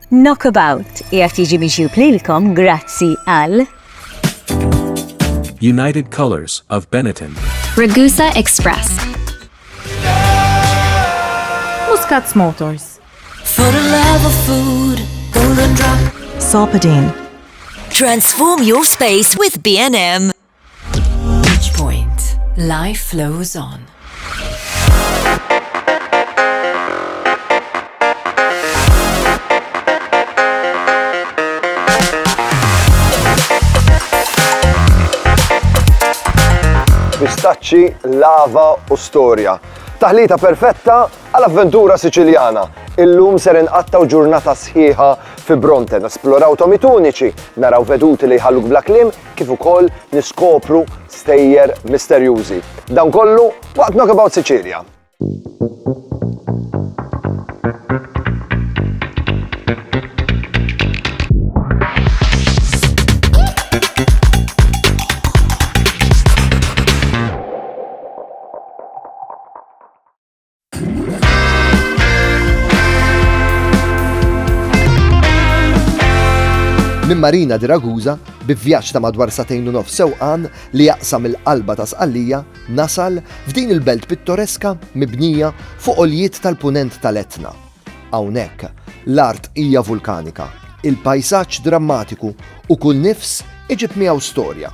Knockabout qiegħed jiġi miġjub lilkom grazzi għal United Colors of Benetton. Ragusa Express. Muscats Motors. For the love of food, golden drop. Sopadine. Transform your space with B&M. Beach Point. Life flows on. pistaċċi, lava u storja. Taħlita perfetta għal avventura Siċiljana. Illum ser inqattaw ġurnata sħiħa fi Bronten, esploraw tomituniċi, naraw veduti li jħalluk bla klim, kif ukoll niskopru stejjer misterjużi. Dan kollu waqt Knockabout Sicilia! Minn Marina di Ragusa, bi vjaġġ ta' madwar satejn u nof sewqan li jaqsam il-qalba ta' Sqallija, nasal f'din il-belt pittoreska mibnija fuq oljiet tal-punent tal-Etna. Hawnhekk, l-art hija vulkanika, il-pajsaġġ drammatiku u kull nifs iġib miegħu storja.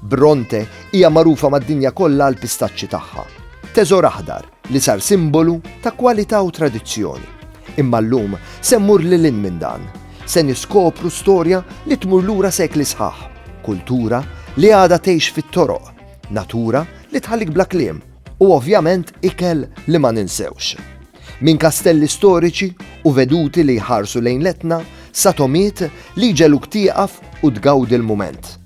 Bronte hija magħrufa mad-dinja kollha għall-pistaċċi tagħha, teżor aħdar li sar simbolu ta' kwalità u tradizzjoni. Imma llum se mmur lil hinn minn dan. Se niskopru storja li tmur lura sekli sħaħ, kultura li għadha tgħix fit-toroq, natura li tħallik bla kliem, u ovvjament ikel li ma ninsewx. Minn kastelli storiċi u veduti li jħarsu lejn l-Etna sa togħmiet li jġegħluk tieqaf u tgawdi l-mument.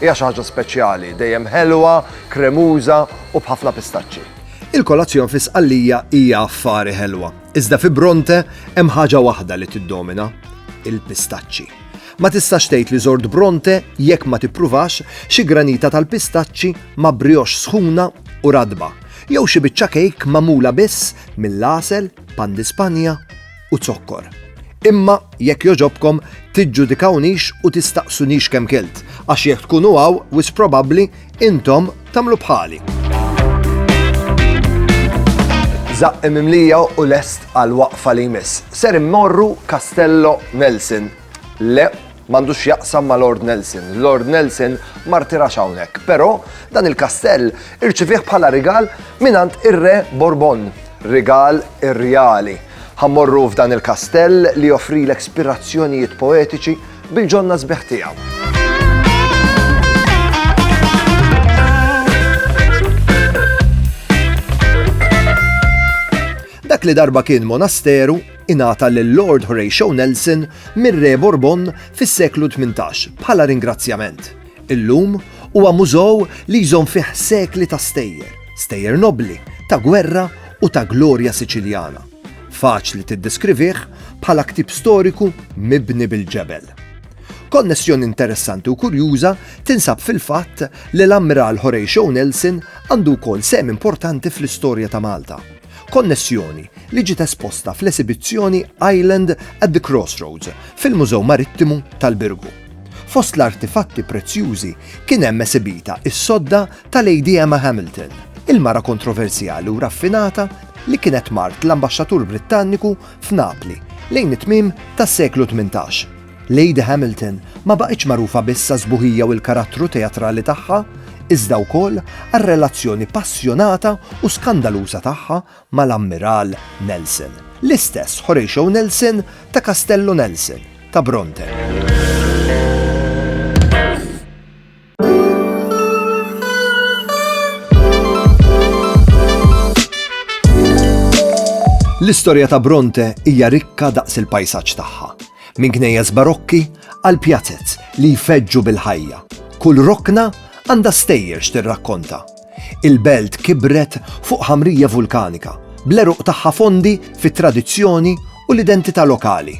Hija xi ħaġa speċjali, dejjem ħelwa, kremuża u b'ħafna pistaċċi. Il-kolazzjon fi Sqallija hija affari ħelwa, iżda fi Bronte hemm ħaġa waħda li tiddomina, il-pistaċċi. Ma tistax tgħid li żort Bronte jekk ma tippruvax xi granita tal-pistaċċi ma' brioche sħuna u radba, jew xi biċċa kejk magħmula biss mill-għasel, pan di Spanja u zokkor. Imma jekk jogħġobkom tiġġudikawnix u tistaqsunix kemm kilt, għax jekk tkunu hawn wis probabbli intom tagħmlu bħali. Zaqqi mimlija u lest għal waqfa li jmiss. Ser immorru Castello Nelson Le, m'għandux x'jaqsam ma' Lord Nelson. Lord Nelson ma rtirax hawnhekk, però dan il-kastell irċivih bħala rigal mingħand ir-Re Bourbon, rigal irreali. Ħammorru f'dan il-kastell li joffrilek spirazzjonijiet poetiċi bil-ġonna sbieħ tiegħu. Dak li darba kien monasteru ingħata lil Lord Horatio Nelson mir-Re Bourbon fis-seklu tmintax bħala ringrazzjament. Illum huwa mużew li jżomm fih sekli ta' stejjer, stejjer nobbli, ta' gwerra u ta' glorja Siċiljana. Faċli tiddeskrivih bħala ktieb storiku mibni bil-ġebel. Konnessjoni interessanti u kurjuża tinsab fil-fatt li l-Ammiral Horatio Nelson għandu wkoll sehem importanti fl-istorja ta' Malta. Konnessjoni li ġiet esposta fl-esibizzjoni Island at the Crossroads fil-Mużew Marittimu tal-Birgu. Fost l-artifatti prezzjużi kien hemm esibita s-sodda ta' Lady Emma Hamilton, il-mara kontroversjali u raffinata li kienet mart l-Ambaxxatur Brittanniku f'Napli lejn it-tmiem tas-seklu tmintax. Lady Hamilton ma baqgħitx magħrufa biss għas-sbuħija u l-karattru teatrali tagħha, iżda wkoll għar-relazzjoni passjonata u skandaluża tagħha mal-Ammiral Nelson, l-istess Horatio Nelson ta' Castello Nelson ta' Bronte. L-istorja ta' Bronte hija rikka daqs il-pajsaġġ tagħha. Minn knejjes barokki għal pjazet li jfeġġu bil-ħajja. Kull rokna għandha stejjer x'tirrakkonta. Il-belt kibret fuq ħamrija vulkanika, bleruq tagħha fondi fit-tradizzjoni u l-identità lokali.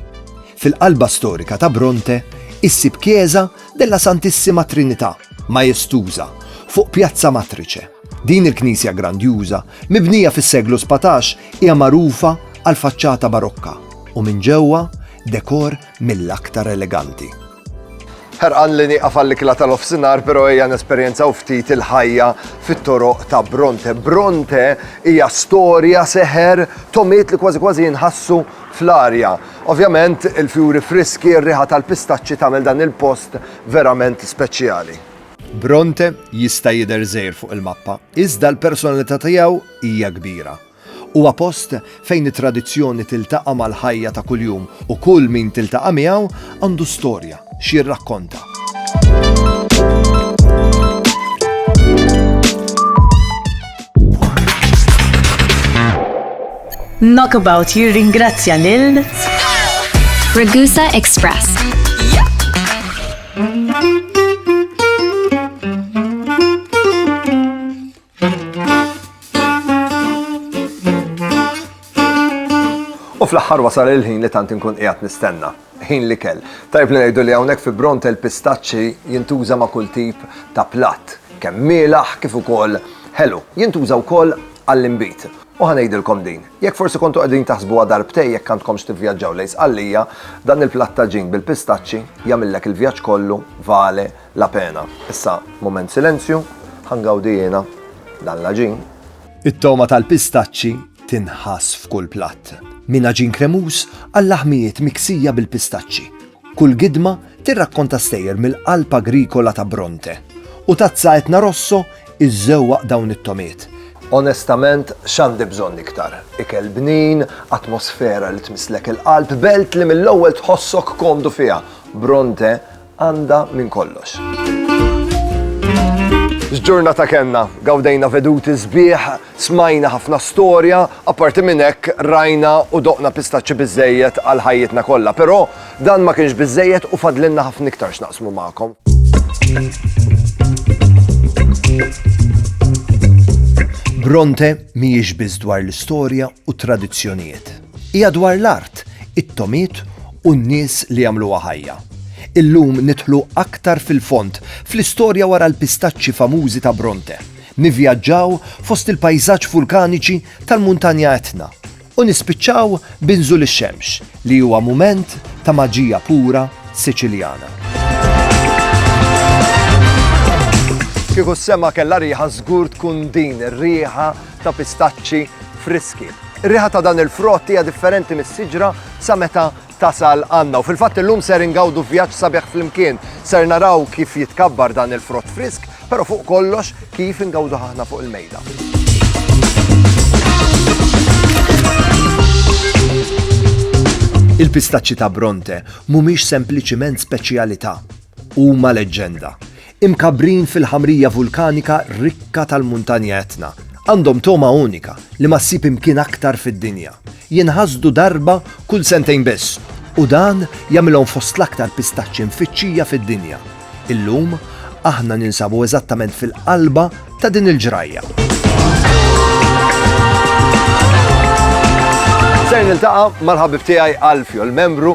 Fil-qalba storika ta' Bronte, issib kieża Della Santissima Trinità, majestuża, fuq Pjazza Matrice. Din il-knisja grandjuża, mibnija fis-seklu sbatax, hija magħrufa għall-faċċata barokka u minn ġewwa dekor mill-aktar eleganti. Ħerqan li nieqaf għall-ikla tal-ofsinhar, però ejja nesperjenzaw ftit il-ħajja fit-toroq ta' Bronte. Bronte hija storja seħer tomiet li kważi kważi jinħassu fl-arja. Ovvjament, il-fjuri friski, ir-riħa tal-pistaċċi tagħmel dan il-post verament speċjali. Bronte jista' jidher żgħir fuq il-mappa, iżda l-personalità tiegħu hija kbira. Huwa post fejn it-tradizzjoni tiltaqa' mal-ħajja ta' kuljum u kull min tiltaqa' miegħu għandu storja, x'jirrakkonta. Knockabout jirringrazzja lil Ragusa Express. U fl-aħħar wasal il-ħin li tant inkun qiegħed nistenna. Ħin li kell. Tajb li ngħidu li hawnhekk fi Bronte l-pistaċċi jintuża ma' kull tip ta' platt, kemm mielaħ kif ukoll ħelu. Jintuża wkoll għall-inbid. U ħanejdilkom din, jekk forsi kontu qegħdin taħsbuha darbtej jekk għandkomx tivvjaġġaw lejn Sqallija, dan il-platt ta' ġin bil-pistaċċi jagħmillek il-vjaġġ kollu vale la pena. Issa mument silenzju, ħangawdi jiena dan l-aġin. It-togħma tal-pistaċċi tinħass f'kull platt. Minn aġin kremuż għal laħmijiet miksija bil-pistaċċi. Kull gidma tirrakkonta stejjer mill-qalb agrikola ta' Bronte. U tazza etna rosso iżżewwaq dawn it-tomiet Onestament, xandi bżonn iktar. Ikel bnin, atmosfera li tmislek il-qalb, belt li mill-ewwel tħossok komdu fiha. Bronte għandha minn kollox. X'ġurnata kellna, gawdejna veduti sbieħ, smajna ħafna storja, apparti minn hekk rajna u doqna pistaċċi biżejjed għal ħajjitna kollha, però dan ma kienx biżejjed u fadlinna ħafna iktar x'naqsmu magħkom. Bronte mhijiex biss dwar l-istorja u tradizzjonijiet. Hija dwar l-art, it-tomiet u n-nies li jagħmluha ħajja. Illum nidħlu aktar fil-fond fl-istorja wara l-pistaċċi famużi ta' Bronte, nivvjaġġaw fost il-pajżaġġ vulkaniċi tal-Muntanja Etna, u nispiċċaw b'Inżul ix-Xemx, li huwa mument ta' maġija pura Siċiljana. Kieku s-sema kellha riħa żgur tkun din ir-riħa ta' pistaċċi friski. Ir-riħa ta' dan il-frott hija differenti mis-siġra sa meta tasal għandna. U fil-fatt illum ser ingawdu vjaġġ sabiħ flimkien. Ser naraw kif jitkabbar dan il-frott frisk, però fuq kollox kif ingawdu ħahna fuq il-mejda. Il-pistaċċi ta' Bronte mhumiex sempliċiment speċjalità, huma leġġenda. Imkabbrin fil-ħamrija vulkanika rikka tal-Muntanja Etna, għandhom togħma unika li ma ssib imkien aktar fid-dinja. Jinħasdu darba kull sentejn biss u dan jagħmilhom fost l-aktar pistaċċi mfittxija fid-dinja. Illum, aħna ninsabu eżattament fil-qalba ta' din il-ġrajja. Ser niltaqa' mal-ħabib tiegħi Alfio, l membru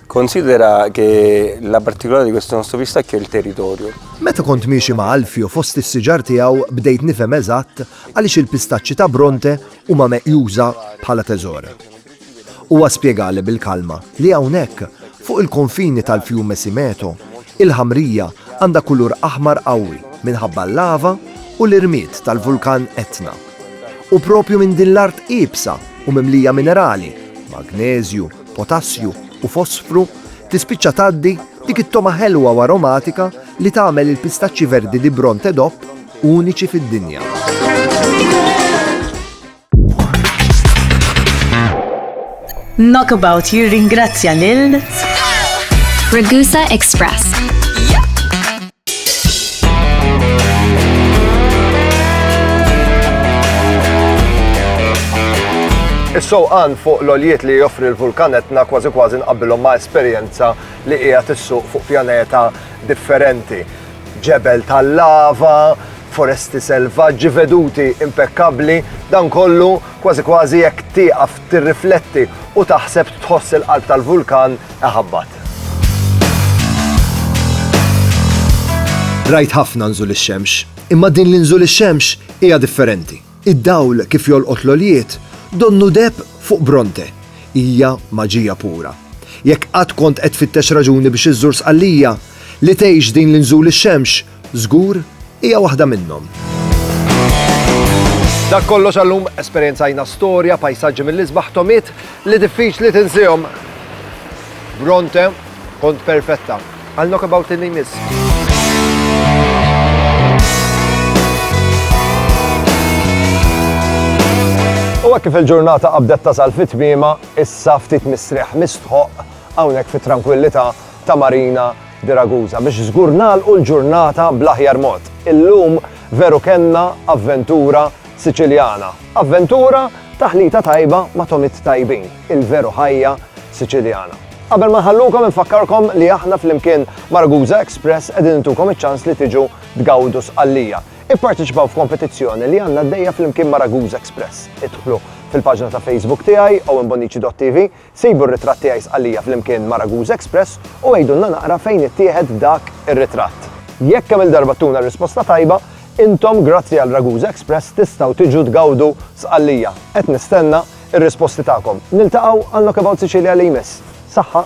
Considera che la particolarità di questo nostro pistacchio è il territorio. Meta kont miexi ma' Alfio fost is-siġar tiegħu bdejt nifhem eżatt għaliex il-pistaċċi ta' Bronte huma meqjuża bħala teżor. Huwa spjegali bil-kalma li hawnhekk, fuq il-konfini tal-Fiume Simeto, il-ħamrija għandha kulur aħmar qawwi minħabba l-lava u l-irmied tal-vulkan Etna. U proprju minn din l-art iebsa u mimlija minerali, magneżju, potassju u fosfru, tispiċċa tgħaddi dik it-togħma ħelwa u aromatika li tagħmel il-pistaċċi verdi di Bronte DOP uniċi fid-dinja. Knockabout jirringrazzja lil Ragusa Express Is-sewqan fuq l-oljiet li joffri l-vulkan etna kważi kważi nqabbilhom ma' esperjenza li hija tissuq fuq pjaneta differenti. Ġebel tal-lava, foresti selvaġġi veduti impekkabbli, dan kollu Kważi kważi jekk tieqaf tirrifletti u taħseb tħoss il-qalb tal-vulkan iħabbat. Rajt ħafna nżul ix-xemx, imma din li nżul ix-xemx hija differenti. Id-dawl kif jolqot l-għoljiet donnu deheb fuq Bronte. Hija maġija pura. Jekk qatt kont qed tfittex raġuni biex iżżur Sqallija, li tgħix din li nżul ix-xemx Żgur, hija waħda minnhom. Dak kollox għallum esperjenzajna storja, pajsaġġi mill-isbaħ tomiet li diffiċli tinsihom. Bronte, kont perfetta. Għal knockabout li jmiss. U kif il-ġurnata qabdet tasal fit tmima issa ftit mistrieħ mistħoq hawnhekk fit-trankwillità ta' Marina de Ragusa biex żgur nagħlqu l-ġurnata bl-aħjar mod. Illum veru kellna avventura Siċiljana. Avventura, taħlita tajba ma' tomiet tajbin, il-veru ħajja Siċiljana. Qabel ma nħallukom infakkarkom li aħna flimkien ma' Ragusa Express qegħdin intukom iċ-ċans li tiġu tgawdu sqallija. Ipparteċipaw f'kompetizzjoni li għandna għaddejja flimkien ma' Ragusa Express. Idħlu fil-paġna ta' Facebook tiegħi owenbonici.tv Sibu r-ritratt tiegħi Sqallija flimkien ma' Raguse Express u għidulna naqra fejn ittieħed dak ir-ritratt. Jekk kemm-il darba ttuna r-risposta tajba, intom grazzi għal Raguse Express tistgħu tiġu tgawdu Sqallija. Qed nistenna r-risposti tagħkom. Niltaqgħu għal Knockabout Sicilia li jmiss. Saħħa!